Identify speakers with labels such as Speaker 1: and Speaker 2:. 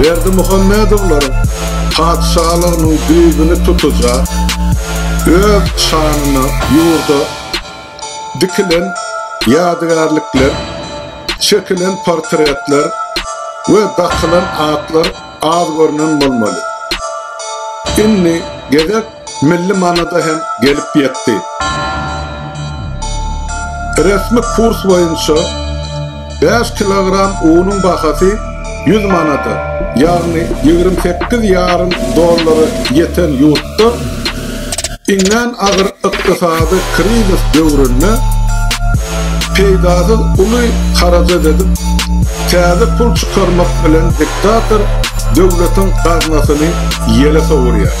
Speaker 1: Berdimuhamedowlaryň patyşalygynyň düýbüni tutujak, öz şanyna ýurda dikilen ýadygärlikler, çekilen portretler we dakylan atlar az görnen bolmaly. Indi gezek milli manada hem gelip ýetdi. Resmi kurs boýunça bäş kilogram unuň bahasy ýüz manada, ýagny ýigrimi sekiz ýarym dollara ýeten ýurtda iňňän agyr ykdysady krizis döwründe peýdasyz uly harajat edip, täze pul çykarmak bilen diktator döwletiň gaznasyny ýele sowurýar.